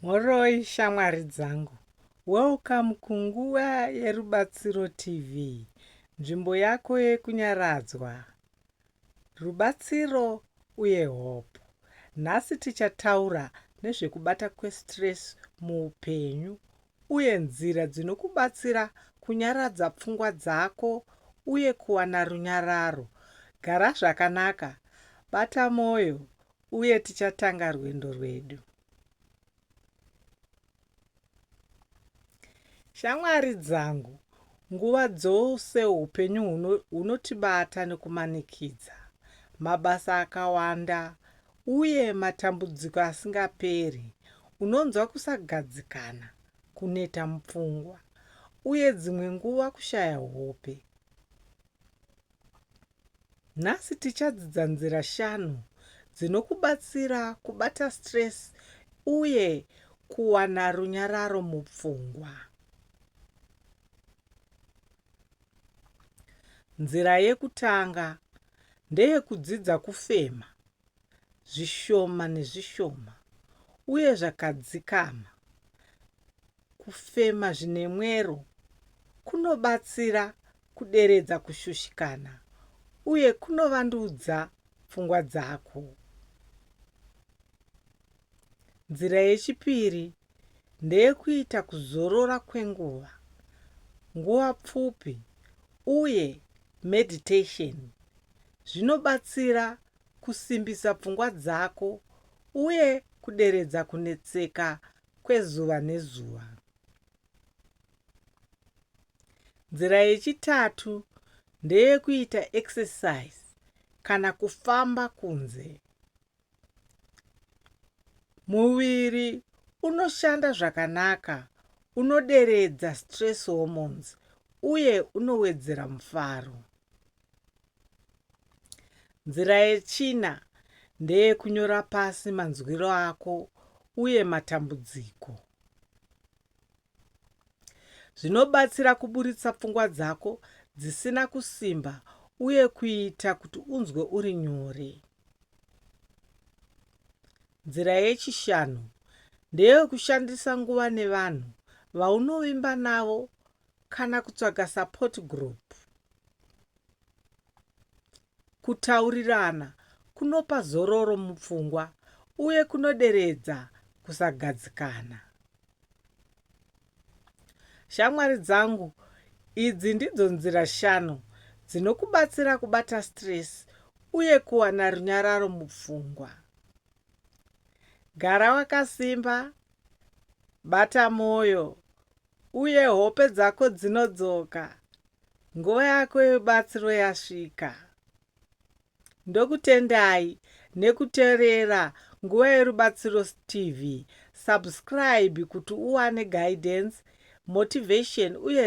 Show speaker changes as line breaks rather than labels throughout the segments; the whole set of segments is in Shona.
Mhoroi shamwari dzangu. Welcome kunguva yerubatsiro TV. Nzvimbo yako yekunyaradzwa, rubatsiro uye hope. Nhasi tichataura nezvekubata kwestress muupenyu uye nzira dzinokubatsira kunyaradza pfungwa dzako uye kuwana runyararo. Gara zvakanaka, bata moyo Uye tichatanga rwendo rwedu. Shamwari dzangu, nguva dzose upenyu hunotibata nekumanikidza, mabasa akawanda, uye matambudziko asingaperi. Unonzwa kusagadzikana, kuneta mupfungwa, uye dzimwe nguva kushaya hope. Nhasi tichadzidza nzira shanu dzinokubatsira kubata stress uye kuwana runyararo mupfungwa. Nzira yekutanga ndeyekudzidza kufema. zvishoma nezvishoma uye zvakadzikama. Kufema zvine mwero kunobatsira kuderedza kushushikana uye kunovandudza pfungwa dzako. Nzira yechipiri ndeyekuita kuzorora kwenguva nguva pfupi uye meditation zvinobatsira kusimbisa pfungwa dzako uye kuderedza kunetseka kwezuva nezuva. Nzira yechitatu ndeyekuita exercise kana kufamba kunze. Muviri unoshanda zvakanaka, unoderedza stress hormones uye unowedzera mufaro. Nzira yechina ndeyekunyora pasi manzwiro ako uye matambudziko. Zvinobatsira kuburitsa pfungwa dzako dzisina kusimba uye kuita kuti unzwe uri nyore. Nzira yechishanu ndeyekushandisa nguva nevanhu vaunovimba navo kana kutsvaga support group. Kutaurirana kunopa zororo mupfungwa uye kunoderedza kusagadzikana. Shamwari dzangu, idzi ndidzo nzira shanu dzinokubatsira kubata stress uye kuwana runyararo mupfungwa. Gara wakasimba, bata mwoyo, Uye hope dzako dzinodzoka. Nguva yako yebatsiro yasvika. Ndokutendai nekuterera Nguva Yerubatsiro TV. Subscribe kuti uwane guidance, motivation uye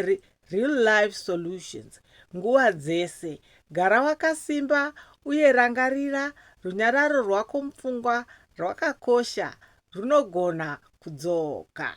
real life solutions nguva dzese. Gara wakasimba uye rangarira runyararo rwako mupfungwa rwakakosha runogona kudzoka.